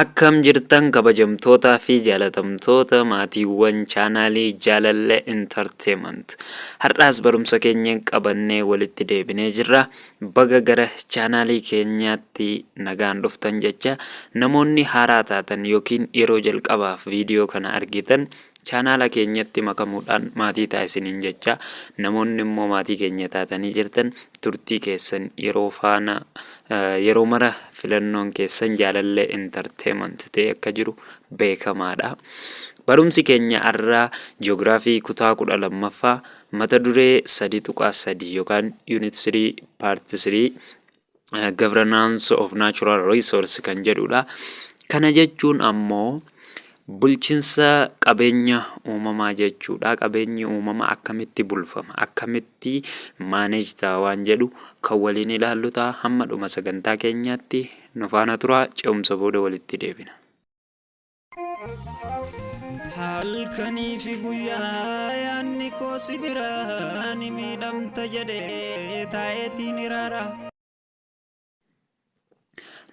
Akkam jirtan kabajamtootaa fi jaalatamtoota maatiiwwan chaanaalii Jaalallee Entertainment. Har'aas barumsa keenya qabannee walitti deebinee jirra. Baga gara chaanaalii keenyaatti nagaan dhuftan jecha namoonni haaraa taatan yookiin yeroo jalqabaaf viidiyoo kana argitan chaanaala keenyatti makamuudhaan maatii taasisaniin jecha namoonni immoo maatii keenya taatanii jirtan turtii keessan yeroo faana Yeroo mara filannoon keessan jaalallee entertainment ta'ee akka jiru beekamaadha. Barumsi keenya har'aa ji'oogiraafii kutaa kudha lammaffaa mata duree sadii tuqaa sadii yookaan unit 3 part 3 governance of natural resource kan jedhudha. Kana jechuun ammoo Bulchinsa qabeenya uumamaa jechuudha. Qabeenyi uumamaa akkamitti bulfama? Akkamitti manage ta'a waan jedhu kan waliin ilaallu ta'a. Hamma dhuma sagantaa keenyaatti nu faana tura. Ce'umsa booda walitti deebina. Halkanii fi guyyaa yaanni koo si biraa ni miidhamta jedhee taa'eetiin iraara.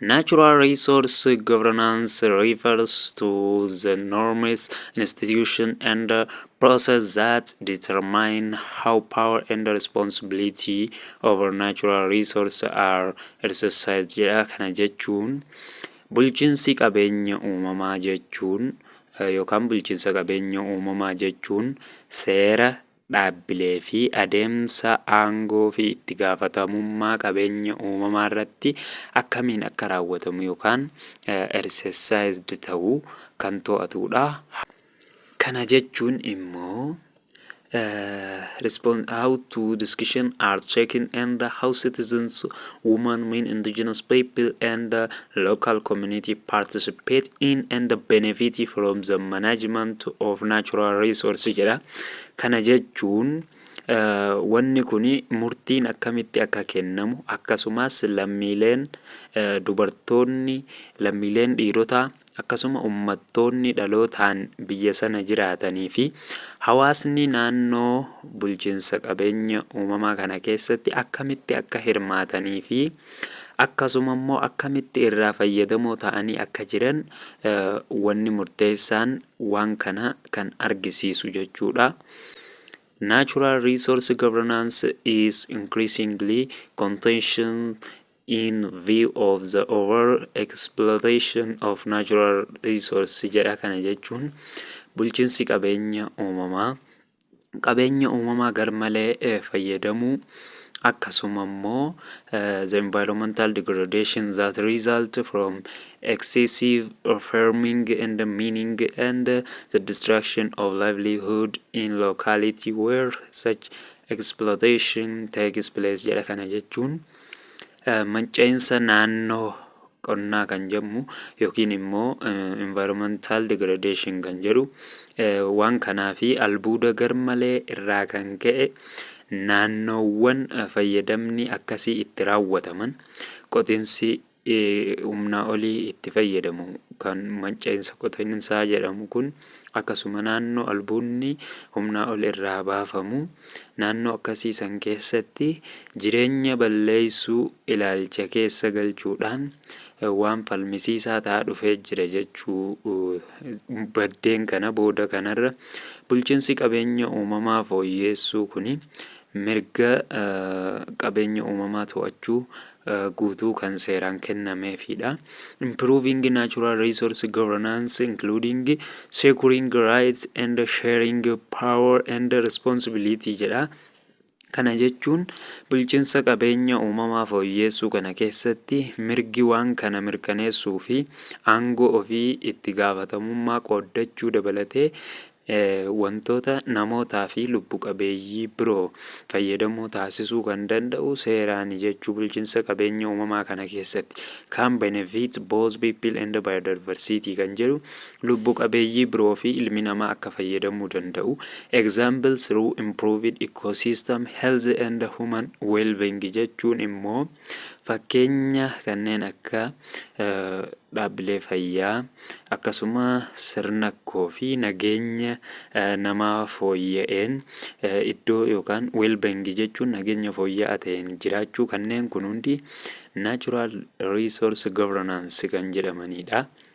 Natural resource governance refers to the norms, institution, and uh, process that determine how power and responsibility over natural resource are exercised jedha. Kana jechuun bulchiinsi qabeenya uumamaa jechuun eh, yookaan bulchiinsa qabeenya uumamaa jechuun seera dhaabbilee fi adeemsa aangoo fi itti gaafatamummaa qabeenya uumamaa irratti akkamiin akka raawwatamu yookaan ersesayizdi ta'u kan to'atuudha. Kana jechuun immoo respon- how to discussion are checking and how citizens women, min, indigenous people and local community participate in and benefit from the management of natural resource jedha. Kana jechuun eh, wanni kun murtiin akkamitti akka kennamu akkasumas lammiileen eh, dubartoonni lammiileen dhiirotaa akkasuma ummattoonni dhalootaan biyya sana jiraatanii fi hawaasni naannoo bulchinsa qabeenya uumamaa kana keessatti akkamitti akka hirmaatanii fi akkasuma immoo akkamitti irraa fayyadamoo ta'anii akka jiran wanni murteessaan waan kana kan argisiisu jechuudha. Natural resource governance is increasingly contentious in view of the over exploitation of natural resource jedha kana jechuun bulchiinsi qabeenya uumamaa qabeenya uumamaa garmalee eh, fayyadamuu akkasuma immoo eh, the environmental degradation that result from excessive farming and mining and the destruction of livelihood in locality where such exploitation takes place jedha kana jechuun manca'iinsa naannoo qonnaa kan jedhamu yookiin immoo environmental degradation kan jedhu waan kanaa fi albuuda garmalee irraa kan ka'e naannoowwan fayyadamni akkasii itti raawwataman qotinsi humnaa olii itti fayyadamu. Kan manca'insa qotinsaa jedhamu kun akkasuma naannoo albuunni humnaa ol irraa baafamu naannoo akkasii san keessatti jireenya balleessuu ilaalcha keessa galchuudhaan waan falmisiisaa ta'aa dhufee jira jechuu baddeen kana booda kanarra bulchiinsi qabeenya uumamaa fooyyeessuu kuni Mirga qabeenya uumamaa to'achuu guutuu kan seeraan kennameefiidha. Improving natural resource governance including securing rights and sharing power and responsibility jedha. Kana jechuun bulchiinsa qabeenya uumamaa fooyyeessuu kana keessatti mirgi waan kana mirkaneessuu fi aangoo ofii itti gaafatamummaa qooddachuu dabalatee Wantoota namootaa fi lubbu qabeeyyii biroo fayyadamoo taasisuu kan danda'u seeraani jechuu bulchinsa qabeenya uumamaa kana keessatti. Can benefit both people and biodiversity kan jedhu lubbu qabeeyyii biroo fi ilmi namaa akka fayyadamuu danda'u example through improved ecosystem health and human wellbeing jechuun immoo Fakkeenya kanneen akka dhaabbilee fayyaa akkasuma sirna koo fi nageenya namaa fooyya'een iddoo yookaan weelbengi jechuun nageenya fooyya'aa ta'een jiraachuu kanneen kun hundi natural resource governance kan jedhamanidha.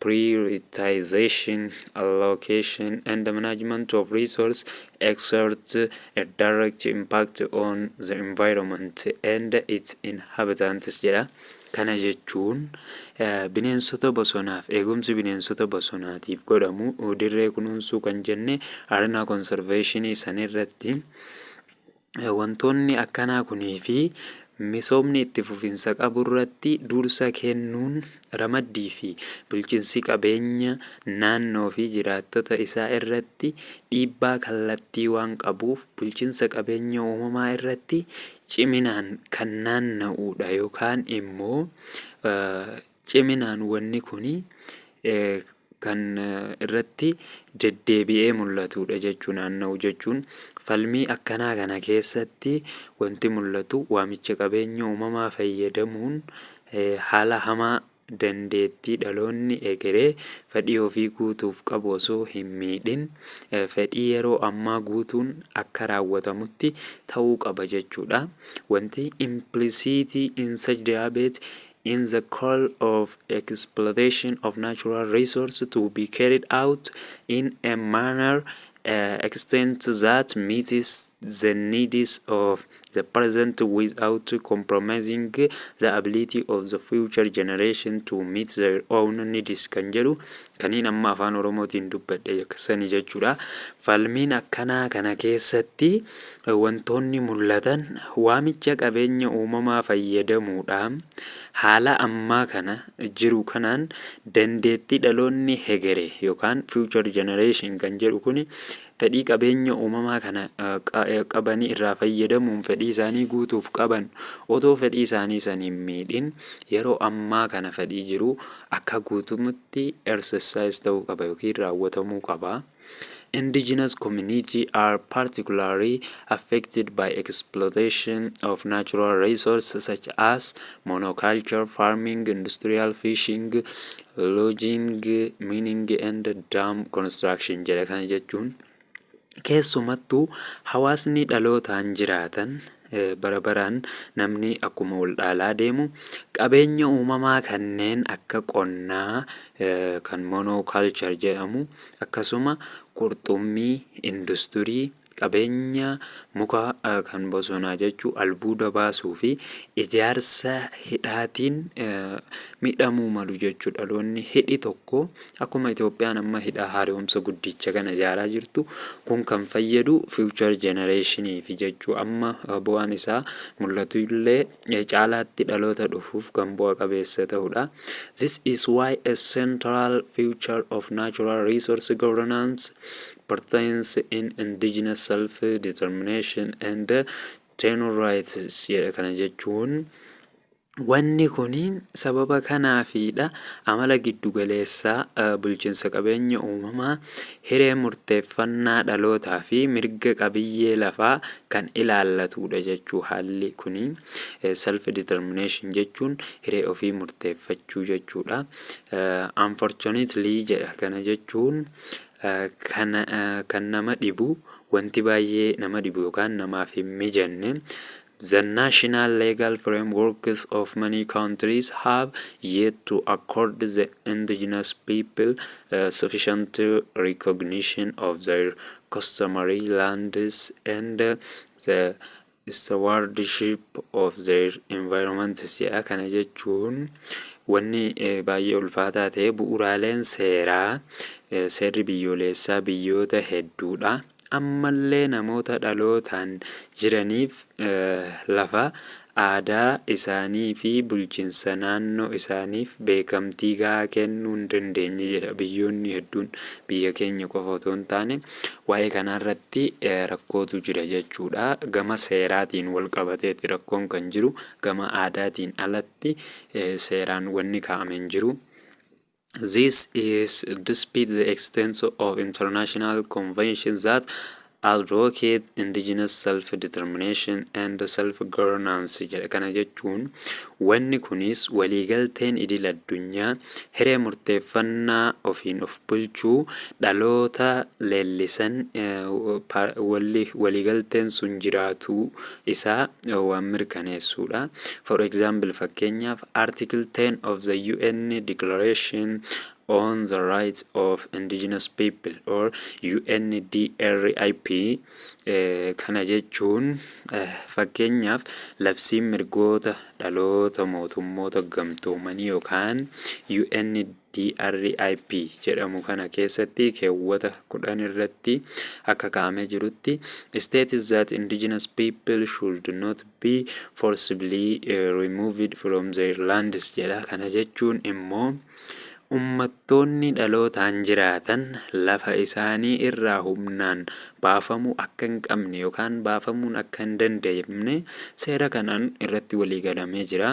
prioritization, allocation, and management of resource exert a direct impact on the environment and its inhabitants jedha. Kana jechuun eh, bineensota bosonaaf eegumsi bineensota bosonaatiif godhamu dirree kunuunsuu kan jenne arenaa konserveeshinii sanirratti Wantoonni akkanaa kunii fi misoomni itti fufinsa qaburratti dursa kennuun ramaddii fi bulchinsi qabeenya naannoo fi jiraattota isaa irratti dhiibbaa kallattii waan qabuuf bulchinsa qabeenya uumamaa irratti ciminaan kan naanna'uudha yookaan immoo ciminaan wanni kun kan irratti deddeebi'ee mul'atuudha jechuu naanna'u jechuun falmii akkanaa kana keessatti wanti mul'atu waamicha qabeenya uumamaa fayyadamuun haala hamaa dandeettii dhaloonni egeree fedhii ofii guutuuf qabu osoo hin miidhin fedhii yeroo ammaa guutuun akka raawwatamutti ta'uu qaba jechuudha. Wanti impilisiitii in such diabate in the call of exploitation of natural resource to be carried out in a manner uh, extent that meets the needs of the present without compromising the ability of the future generation to meet their own needs kan jedhu kaniin amma afaan oromootiin dubbadhe sani jechuudha falmiin akkanaa kana keessatti Wantoonni mul'atan waamicha qabeenya uumamaa fayyadamuudhaan haala ammaa kana jiru kanaan dandeettii dhaloonni hegere yookaan future generation kan jedhu kun fedhii qabeenya uumamaa kana qabanii irraa fayyadamuun fedhii isaanii guutuuf qaban otoo fedhii isaanii san hin miidhin yeroo ammaa kana fedhii jiru akka guutumatti exercise ta'uu qaba yookiin raawwatamuu qaba. Indigenous community are particularly affected by exploitation of natural resources such as monoculture farming, industrial fishing, logging, mining and dam construction jedha kana jechuun keessumattuu hawaasni dhalootaan jiraatan bara baraan namni akkuma wal dhaalaa deemu qabeenya uumamaa kanneen akka qonnaa kan monoculture jedhamu akkasuma qurxummii industirii qabeenya muka kan bosonaa jechuu albuuda baasuu fi ijaarsa hidhaatiin midhamuu malu jechuu dhaloonni hidhi tokko Akkuma Itoophiyaan amma hidha haaromsa guddicha kana ijaaraa jirtu kun kan fayyadu future generationii fi jechuu amma bu'aan isaa mul'atu illee caalaatti dhaloota dhufuuf kan bu'a qabeessa ta'udha. This is why a central future of natural resource governance pertains in indigenous self determination and tenure rights jedha kana jechuun. Wanni kun sababa kanaafiidha amala giddugaleessaa bulchinsa qabeenya uumamaa, hiree murteeffannaa dhalootaa fi mirga qabiyyee lafaa kan ilaallatuudha jechuu haalli kun self determination jechuun hiree ofii murteeffachuu jechuudha. Unfortunately jedha kana jechuun kan nama dhibu wanti baay'ee nama dhibu yookaan namaaf hin mijanne The national legal frameworks of many countries have yet to accord the indigenous people sufficient recognition of their customary lands and the stewardship of their environment jedha kana jechuun wanni baay'ee ulfaataa ta'e bu'uuraaleen seeraa seerri biyyooleessaa biyyoota hedduudha ammallee namoota dhalootaan jiraniif lafa, aadaa, isaanii fi bulchinsa naannoo isaaniif beekamtii gahaa kennuu hin dandeenye jedha biyyoonni hedduun. Biyya keenya qofa otoo hin taane waa'ee kanaa irratti rakkootu jira jechuudha. Gama seeraatiin wal qabateeti rakkoon kan jiru. Gama aadaatiin alatti seeraan wanni kaa'ame hin jiru. This is despite the existence of international conventions that advocate indigenous self-determination and self-governance jedha. Kana jechuun wanni kunis waliigalteen idil addunyaa hiree murteeffannaa ofiin of bulchuu dhaloota leellisan eh, pa- walli- waliigalteen sun jiraatuu isaa eh, waan mirkaneessuudha. For example fakkeenyaaf Article 10 of the UN Declaration on the Rights of Indigenous People or UNDRIP eh, kana jechuun eh, fakkeenyaaf labsiin mirgoota dhaloota mootummoota gamtoomanii yookaan UN DRIP jedhamu kana keessatti keewwata 10 irratti akka kaa'amee jirutti states that indigenous people should not be forcibly eh, removed from their lands jedha. Kana jechuun immoo ummattoonni dhalootaan jiraatan lafa isaanii irraa humnaan baafamuu akka hin qabne yookaan baafamuun akka hin danda'amne seera kanaan irratti waliigalamee jira.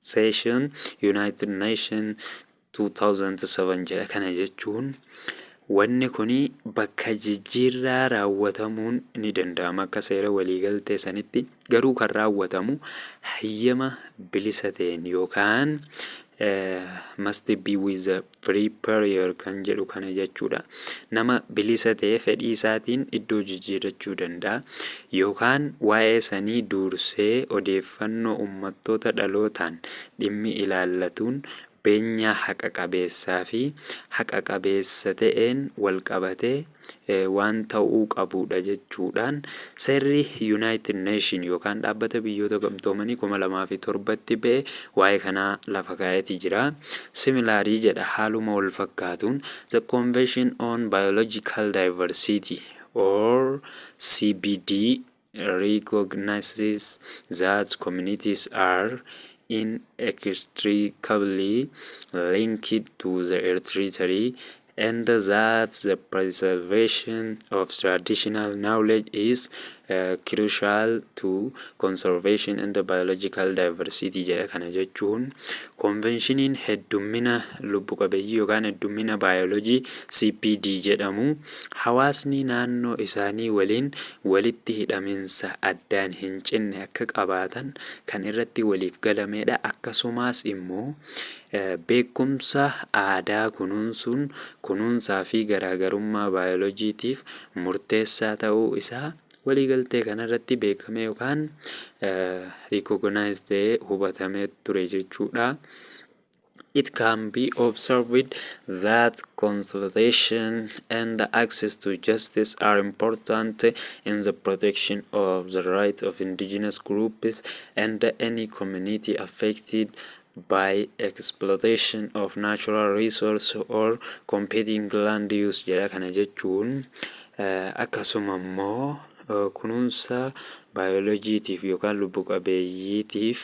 Session United Nation 2007 jedha. Kana jechuun wanni kun bakka jijjiirraa raawwatamuun ni danda'ama akka seera waliigaltee sanitti garuu kan raawwatamu hayyama bilisa ta'een yookaan must be with a free period kan jedhu kana jechuudha. Nama bilisa ta'e fedhii isaatiin iddoo jijjiirrachuu danda'a. yookaan waa'ee sanii duursee odeeffannoo ummattoota dhalootaan dhimmi ilaallatuun beenyaa haqa qabeessaa fi haqa qabeessa ta'een wal qabatee waan ta'uu qabuu dha jechuu dhaan seerri Yunaayitid Neeshin yookaan Dhaabbata Biyyoota Gamtoomanii 2007 tti ba'e waa'ee kanaa lafa kaa'ee ti jira. Similarly jedha haaluma wal fakkaatuun The Convention on Biological Diversity or CBD recognizes that communities are inextricably linked to the Eritrea and that the preservation of traditional knowledge is uh, crucial to conservation and biological diversity jedha kana jechuun konvenshiniin heddummina lubbu qabeeyyii yookaan heddummina baayoloojii CPD jedhamu Hawaasni naannoo isaanii waliin walitti hidhaminsa addaan hin cinne akka qabaatan kan irratti waliif galamedha. Akkasumaas immoo beekumsa aadaa kunuunsuun kunuunsaa fi garaagarummaa baayolojiitiif murteessaa ta'uu isaa waliigaltee kanarratti beekamee yookaan recognized ta'ee hubatamee ture jechuudha. It can be observed that consultation and access to justice are important in the protection of the rights of indigenous groups and any community affected by exploitation of natural resource or competing land use jedha kana jechuun eh, akkasuma immoo eh, kunuunsa baayoloojiitiif yookaan lubbu qabeeyyiitiif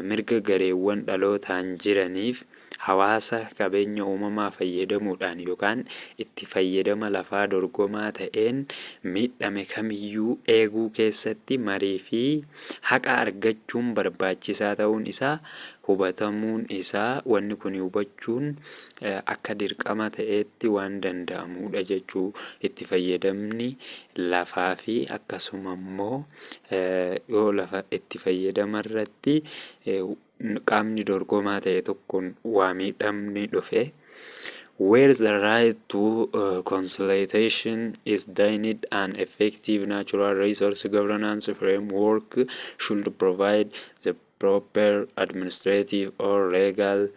Mirga gareewwan dhalootaan jiraniif hawaasa qabeenya uumamaa fayyadamuudhaan yookaan itti fayyadama lafaa dorgomaa ta'een miidhame kamiyyuu eeguu keessatti marii fi haqa argachuun barbaachisaa ta'uun isaa hubatamuun isaa wanni kuni hubachuun akka dirqama ta'eetti waan danda'amuudha jechuu itti fayyadamni lafaa fi akkasuma immoo yoo lafa itti fayyadama irratti qaamni dorgomaa ta'e tokkoon waa miidhamni dhufe where the right to uh, consultation is denied an effective natural resource governance framework should provide the proper administrative or legal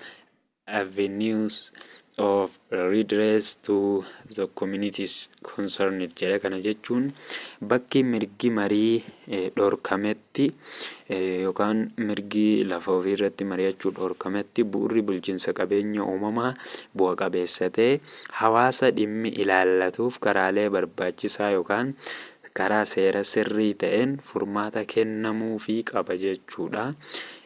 avenues of redress to the communities concerned jedha. Kana jechuun bakki mirgi marii dhorkametti yookaan mirgi lafa ofii irratti mari'achuu dhorkametti bu'urri bulchiinsa qabeenya uumamaa bu'a qabeessa ta'e hawaasa dhimmi ilaallatuuf karaalee barbaachisaa yookaan karaa seera sirrii ta'een furmaata kennamuu fi qaba jechuudha.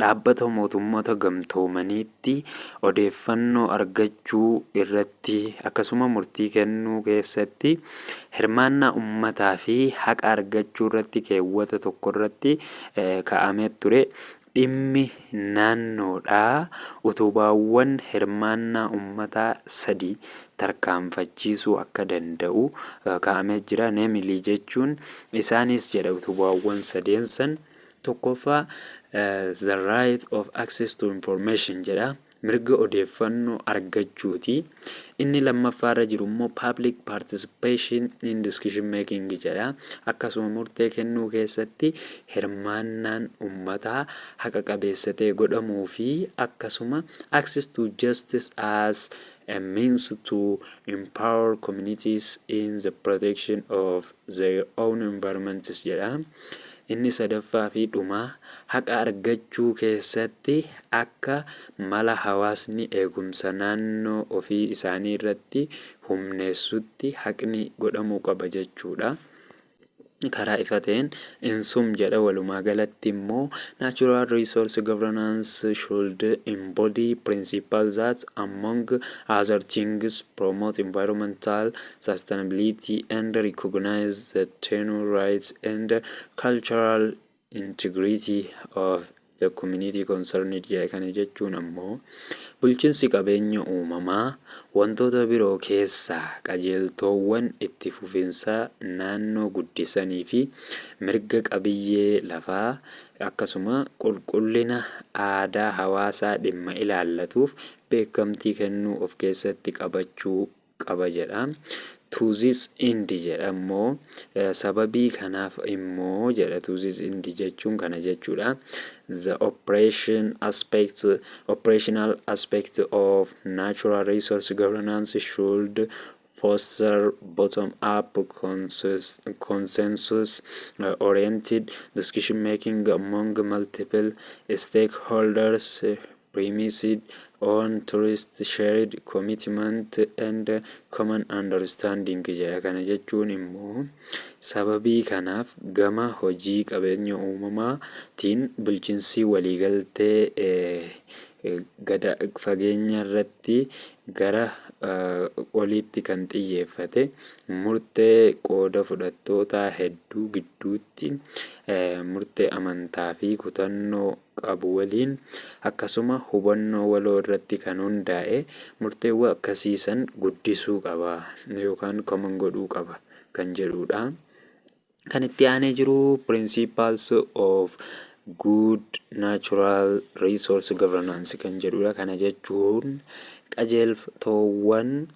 Dhaabbata Mootummoota Gamtoomaniitti odeeffannoo argachuu irratti akkasuma murtii kennuu keessatti hirmaannaa ummataa fi haqa argachuu irratti keewwata tokko irratti ka'amee ture dhimmi naannoodhaa utubaawwan hirmaannaa ummataa sadi tarkaanfachiisuu akka danda'u ka'amee jira. Namely jechuun isaanis jedha utubaawwan sadeen san. 1ffaa the right of access to information jedha. Mirga odeeffannoo argachuuti. Inni lammaffaarra jiru immoo public participation in decision making jedha. Akkasuma murtee kennuu keessatti hirmaannaan ummataa haqa qabeessa ta'e godhamuu fi akkasuma access to justice as a means to empower communities in the protection of their own environments jedha. Inni sadaffaa fi dhumaa haqa argachuu keessatti akka mala hawaasni eegumsa naannoo ofii isaanii irratti humneessutti haqni godhamuu qaba jechuudha. Karaa ifa ta'een insum jedha walumaa galatti immoo natural resource governance should embody principle that among other things promote environmental sustainability and recognize the tenure rights and cultural integrity of the community concerned jedhe kana jechuun ammoo bulchinsi qabeenya uumamaa wantoota biroo keessaa qajeeltoowwan itti fufinsaa naannoo guddisanii fi mirga qabiyyee lafaa akkasuma qulqullina aadaa hawaasaa dhimma ilaallatuuf beekamtii kennuu of keessatti qabachuu qaba jedha. To this end jedha immoo sababii kanaaf immoo jedha to this end jechuun kana jechuudha. The operation aspect, operational aspect of natural resource governance should foster bottom-up consensus- consensus uh, oriented decision making among multiple stakeholders uh, premised on trust, shared commitment and common understanding jedha. Kana jechuun immoo sababii kanaaf gama hojii qabeenya uumamaa tiin bulchinsii waliigaltee gada fageenya irratti gara oliitti kan xiyyeeffate murtee qooda fudhattootaa hedduu gidduutti murtee amantaa fi kutannoo qabu waliin akkasuma hubannoo waloo irratti kan hundaa'e murteewwa akkasii san guddisuu qaba yookaan common godhuu qaba kan jedhuu dha. Kan itti aanee jiru Principles of Good Natural Resource Governance kan jedhuu dha. Kana jechuun qajeeltoowwan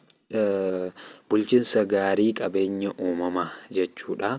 bulchinsa gaarii qabeenya uumamaa jechuu dha.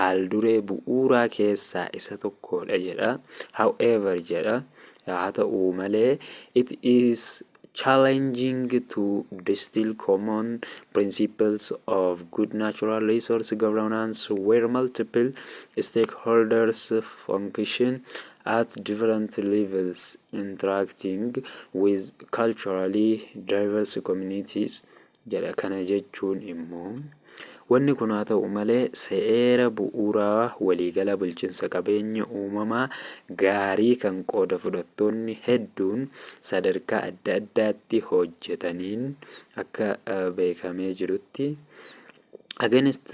haalduree bu'uuraa keessaa isa tokkodha jedha. However jedha, haa ta'u malee, it is challenging to distill common principles of good natural resource governance where multiple stakeholders function at different levels interacting with culturally diverse communities jedha. Kana jechuun immoo wanni kun haa ta'u malee seera bu'uuraa waliigalaa bulchinsa qabeenya uumamaa gaarii kan qooda fudhattoonni hedduun sadarkaa adda addaatti hojjetaniin akka beekamee jirutti against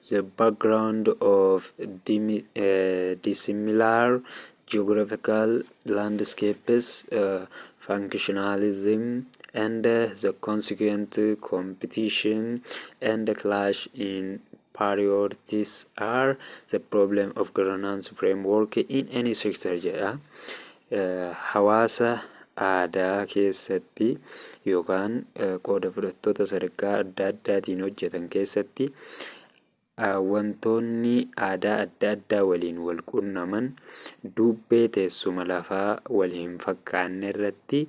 the background of dimi- eh, dissimilar Geographical Landscapes, Functionalism, and the Consequent Competition and Clash in Priorities are the Problem of Governance Framework in Any Sector jedha. Eh, Hawaasa aadaa keessatti yookaan eh, qooda fudhattoota sadarkaa adda addaatiin hojjetan keessatti Wantoonni aadaa adda addaa waliin walqunnaman duubbee teessuma lafaa walhinfakkaannerratti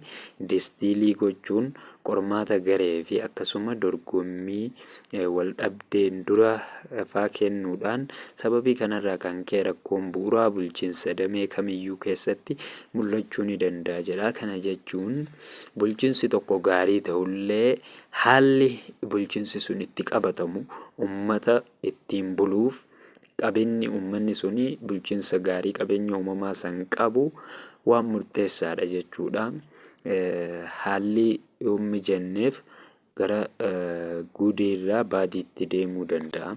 distiilii gochuun qormaata gareefi akkasuma dorgommii waldhabdeen dura faa kennuudhaan sababii kanarraa kan ka'e rakkoon bu'uraa bulchiinsa damee kamiyyuu keessatti mul'achuu ni danda'a jedha. Kana jechuun bulchiinsi tokko gaarii ta'ullee Haalli bulchinsi sun itti qabatamu ummata ittiin buluuf qabeenni ummanni sun bulchinsa gaarii qabeenya uumamaa san qabu waan murteessaadha jechuudha. Haalli yoo hin mijanneef gara gudeerraa baadiitti deemuu danda'a.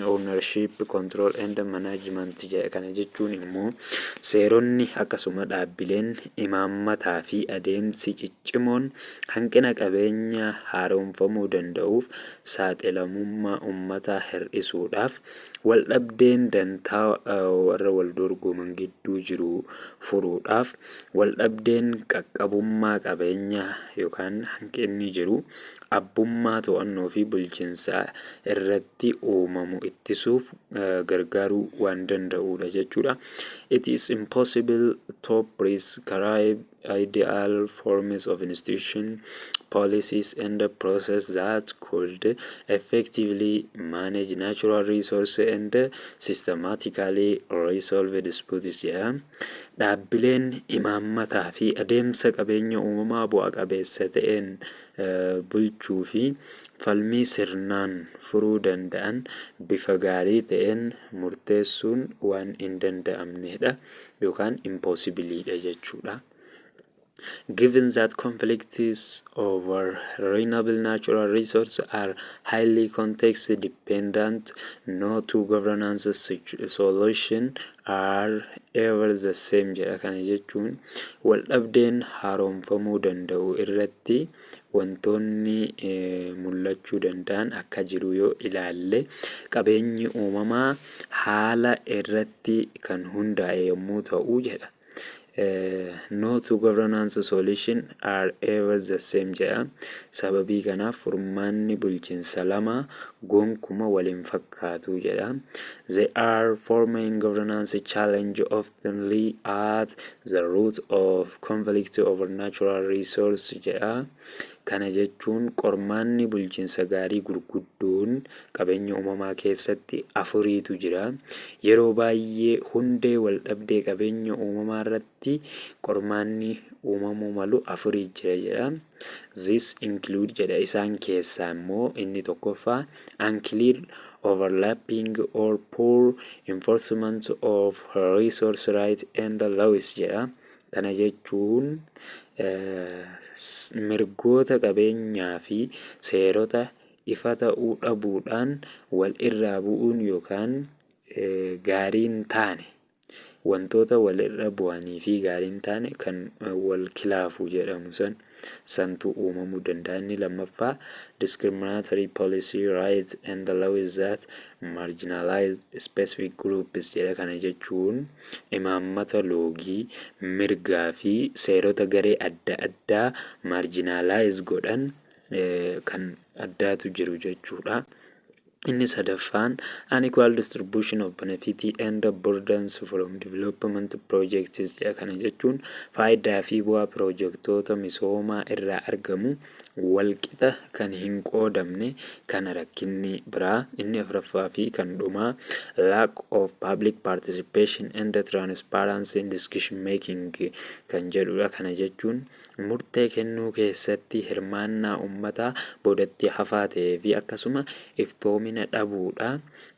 Ownership, Control and Management jedha. Kana jechuun immoo seeronni akkasuma dhaabbileen, imaammataa fi adeemsi ciccimoon hanqina qabeenya haaromfamuu danda'uuf saaxilamummaa ummataa hir'isuudhaaf waldhabdeen dantaa warra waldorgoman gidduu jiru furuudhaaf waldhabdeen qaqqabummaa qabeenyaa yookaan hanqinni jiru abbummaa to'annoo fi bulchinsaa irratti uumamu ittisuuf gargaaruu waan danda'uudha jechuudha. It is impossible to prescribe ideal forms of institution, policies and process that could effectively manage natural resource and systematically resolve disputes jedha. Dhaabbileen imaammataa fi adeemsa qabeenya uumamaa bu'a qabeessa ta'een bulchuu fi falmii sirnaan furuu danda'an bifa gaarii ta'een murteessuun waan hin danda'amne dha yookaan impossible dha jechuu dha. Given that conflicts over renewable natural resources are highly context dependent, no two governance solutions are ever the same jedha. Kana jechuun waldhabdeen haaromfamuu danda'u irratti wantoonni mul'achuu danda'an akka jiru yoo ilaalle qabeenyi uumamaa haala irratti kan hundaa'e yommuu ta'u jedha. No two governance solutions are ever the same jedha. Sababii kanaaf furmaanni bulchinsa lama gonkuma wal hin fakkaatu jedha. There are four main governance challenges often lie at the root of conflict over natural resource jedha. Kana jechuun qormaanni bulchinsa gaarii gurguddoon Qabeenya uumamaa keessatti afuriitu jira. Yeroo baay'ee hundee waldhabdee qabeenya uumamaa irratti qormaanni uumamuu malu afurii jira jedha. This include jedha isaan keessaa immoo inni tokkoffaa unclear overlapping or poor enforcement of resource right and laws jedha. Kana jechuun mirgoota qabeenyaa fi seerota ifa ta'uu dhabuudhaan wal irraa bu'uun yookaan gaarii hin taane wantoota wal irra bu'anii fi gaarii hin taane kan wal kilaafu jedhamu san santu uumamuu danda'a inni lammaffaa discriminatory policy rights and the laws that marginalize specific groups jedha kana jechuun imaammata loogii mirgaa fi seerota garee adda addaa marginalize godhan kan addaatu jiru jechuudha. Inni sadaffaan unequal distribution of benefit and burdens from development projects jedha. Kana jechuun faayidaa fi bu'aa pirojektoota misoomaa irraa argamu walqixa kan hin qoodamne kana rakkinni biraa inni afraffaa fi kan dhumaa lack of public participation and transparency in decision making kan jedhudha. Kana jechuun murtee kennuu keessatti hirmaannaa ummataa boodatti hafaa ta'ee fi akkasuma iftoomina dhabuu dha.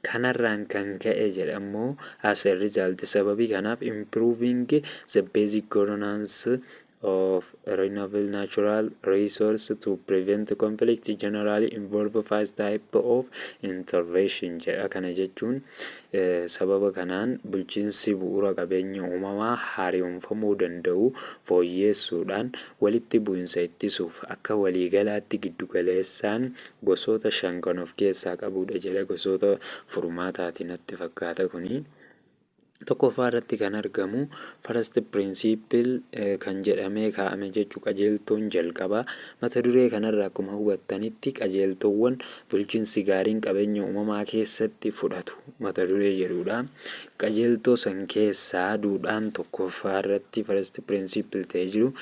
Kanarraan kan ka'e jedha immoo as a result sababii kanaaf improving the basic governance of renewable natural resource to prevent conflict generally involve five type of intervention jedha. Kana jechuun Sababa kanaan bulchiinsi bu'uura qabeenya uumamaa haariyomfamuu danda'u fooyyeessuudhaan walitti bu'insa ittisuuf akka waliigalaatti giddugaleessaan gosoota shan kan of keessaa qabuudha jedha gosoota furmaataati natti fakkaata kuni. Tokkoffaa irratti kan argamu first principle kan jedhamee kaa'ame jechu qajeeltoon jalqabaa mata duree kanarra akkuma hubattanitti qajeeltoowwan Bulchinsi gaariin qabeenya uumamaa keessatti fudhatu mata duree jedhuu dha. Qajeeltoo san keessaa duudhaan tokkoffaa irratti, first principle, ta'e jiru,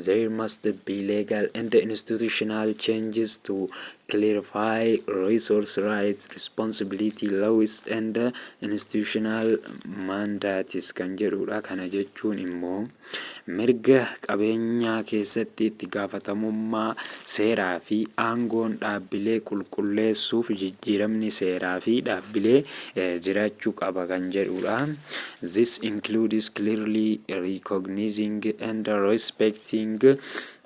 There must be legal and institutional changes to clarify resource rights, responsibility, laws and institutional mandates kan jedhuu dha. Kana jechuun immoo. Mirga qabeenyaa keessatti itti gaafatamummaa seeraa fi aangoon dhaabbilee qulqulleessuuf jijjiiramni seeraa fi dhaabbilee jiraachuu qaba kan jedhuudha. This includes clearly recognizing and respecting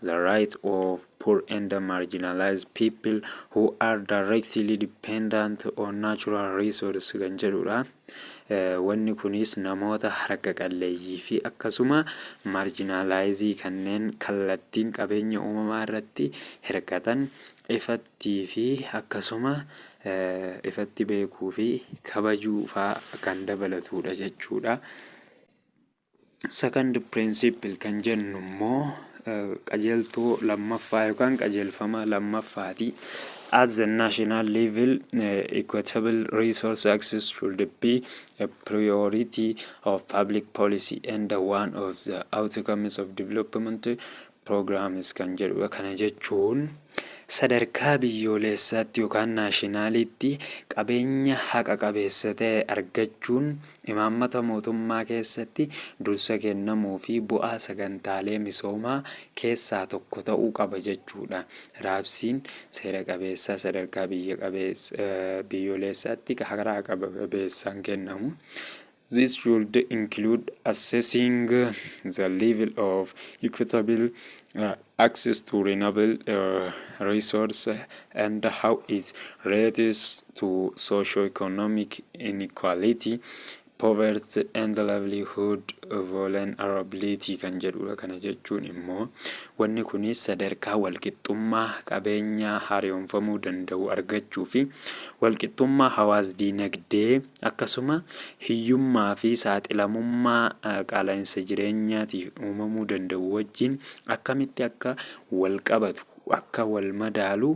the right of poor and marginalized people who are directly dependent on natural resources kan jedhuudha. Wanni kunis namoota harka qalleeyyii fi akkasuma marjinaalaayizii kanneen kallattiin qabeenya uumamaa irratti hirkatan ifatti fi akkasuma ifatti beekuu fi kabajuu faa kan dabalatudha jechuudha. Second principle kan jennu immoo qajeeltoo lammaffaa yookaan qajeelfama lammaffaati. At the national level, eh, equitable resource access should be a priority of public policy and one of the outcomes of development programs kan jedhudha. Kana jechuun sadarkaa biyyooleessaatti yookaan naashinaaliitti qabeenya haqa qabeessa ta'e argachuun imaammata mootummaa keessatti dursa kennamuu fi bu'aa sagantaalee misoomaa keessaa tokko ta'uu qaba jechuudha. Raabsiin seera qabeessaa sadarkaa biyya qabeessa, biyyooleessaatti karaa haqa qabeessaan kennamu This should include assessing the level of equitable uh, access to renewable uh, resource and how it relates to socio-economic inequality, poverty and livelihood vulnerability kan jedhudha. Kana jechuun immoo wanni kun sadarkaa walqixxummaa qabeenyaa haaromfamuu danda'u argachuu fi walqixxummaa hawaas dinagdee Akkasuma hiyyummaa fi saaxilamummaa qaala'insa jireenyaatiif uumamuu danda'u wajjin akkamitti akka wal qabatu, akka wal madaalu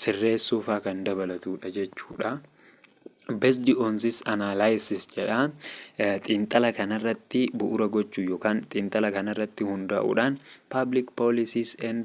sirreessuu faa kan dabalatu dha jechuu dha. Based on this analysis jedha xiinxala kanarratti bu'uura gochuu yookaan xiinxala kanarratti hundaa'uudhaan public policies and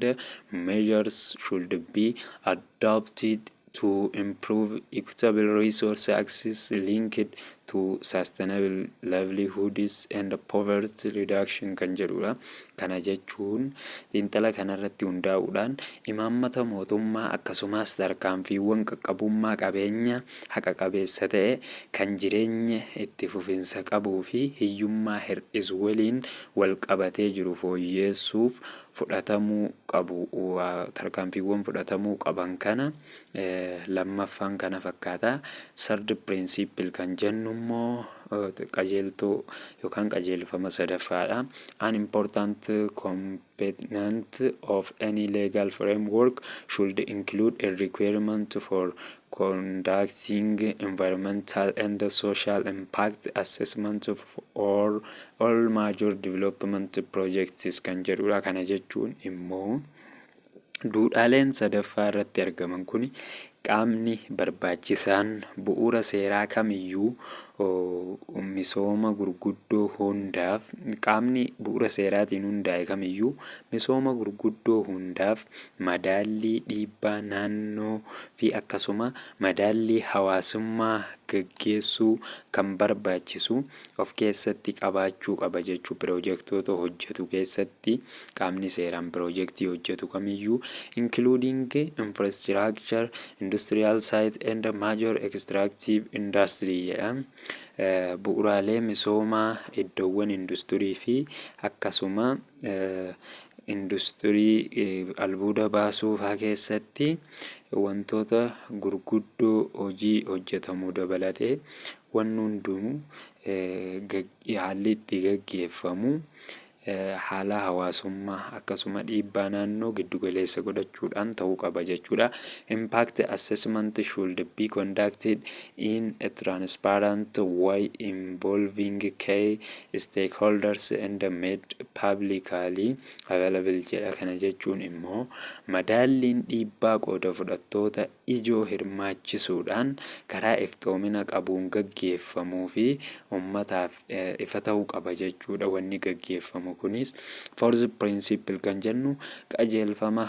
measures should be adopted. adopted to improve equitable resource access linked to sustainable livelihoods and poverty reduction kan jedhudha. Kana jechuun xiinxala kanarratti hundaa'uudhaan imaammata mootummaa akkasumas tarkaanfiiwwan qaqqabummaa qabeenya haqa qabeessa ta'e kan jireenya itti fufinsa qabuu fi hiyyummaa hir'isu waliin wal qabatee jiru fooyyeessuuf fudhatamuu qabu tarkaanfiiwwan fudhatamuu qaban kana lammaffaan kana fakkaata. Third principle kan jennu immoo qajeeltoo yookaan qajeelfama sadaffaadha. An important component of any legal framework should include a requirement for conducting environmental and social impact assessment of all, all major development projects kan jedhudha. Kana jechuun immoo duudhaaleen sadaffaa irratti argaman kun qaamni barbaachisaan bu'uura seeraa kamiyyuu misooma gurguddoo hundaaf qaamni bu'uura seeraatiin hundaa'e kamiyyuu misooma gurguddoo hundaaf madaallii dhiibbaa naannoo fi akkasuma madaallii hawaasummaa gaggeessuu kan barbaachisu of keessatti qabaachuu qaba jechuun piroojektoota hojjetu keessatti qaamni seeraan piroojektii hojjetu kamiyyuu including infrastructure, industrial site and major extractive industry jedha. Bu'uraalee misoomaa iddoowwan industurii fi akkasuma Industirii albuuda baasuu faa keessatti wantoota gurguddoo hojii hojjetamu dabalatee wanni hunduu haalli itti gaggeeffamu haala hawaasummaa akkasuma dhiibbaa naannoo giddu galeessa godhachuudhaan ta'uu qaba jechuudha. Impact assessment should be conducted in a transparent way involving key stakeholders and made publicly available jedha. Kana jechuun immoo madaalliin dhiibbaa qooda fudhattoota ijoo hirmaachisuudhaan karaa iftoomina qabuun gaggeeffamuu fi ummataaf ifa ta'uu qaba jechuudha. Wanni gaggeeffamu kunis fourth principle kan jennu qajeelfama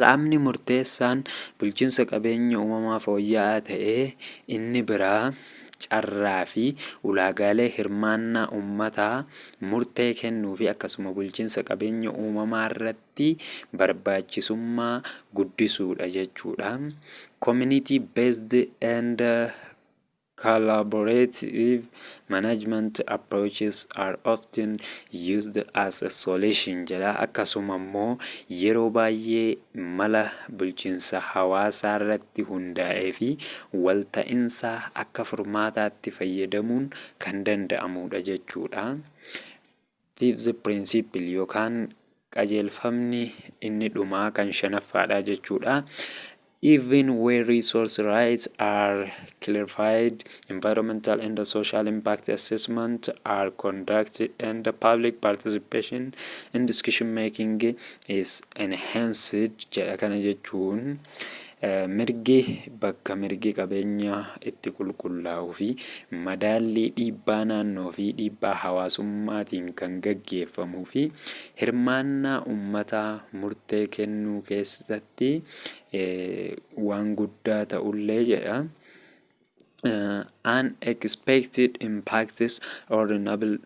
Qaamni murteessaan bulchiinsa qabeenya uumamaa fooyya'aa ta'e inni biraa carraa fi ulaagaalee hirmaannaa ummataa murtee kennuu fi akkasuma bulchiinsa qabeenya uumamaa irratti barbaachisummaa guddisuudha jechuudha. Community Based and Collaborative management approaches are often used as a solution jedha. Akkasuma immoo yeroo baay'ee mala bulchiinsa hawaasaa irratti hundaa'ee fi walta'insaa akka furmaataatti fayyadamuun kan danda'amuudha jechuudha. Fifth principle yookaan qajeelfamni inni dhumaa kan shanaffaadha jechuudha. Even where resource rights are clarified, environmental and social impact assessment are conducted and the public participation in discussion making is enhanced jedha kana jechuun Mirgi bakka mirgi qabeenyaa itti qulqullaa'uu fi madaallii dhiibbaa naannoo fi dhiibbaa hawaasummaatiin kan gaggeeffamuu fi hirmaannaa ummataa murtee kennuu keessatti waan guddaa ta'ullee jedha. Unexpected impacts on renewable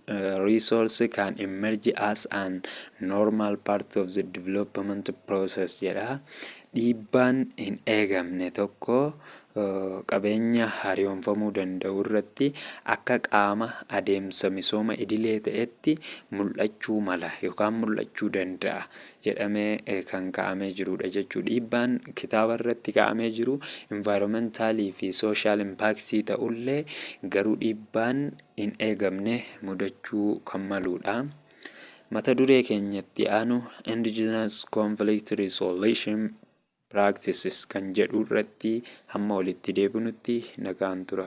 resources can emerge as an normal part of the development process jedha. Dhiibbaan hin eegamne tokko qabeenya hariyoomfamuu danda'u irratti akka qaama adeemsa misooma idilee ta'etti mul'achuu mala yookaan mul'achuu danda'a. jedhamee kan kaa'amee jiruudha jechuudha. Dhiibbaan kitaaba irratti kaa'amee jiru environmental fi social impact ta'ullee garuu dhiibbaan hin eegamne mudachuu kan maluudha. Mata duree keenyatti aanu indigenous conflict resolution practices kan jedhu irratti hamma walitti deebinutti nagaan tura.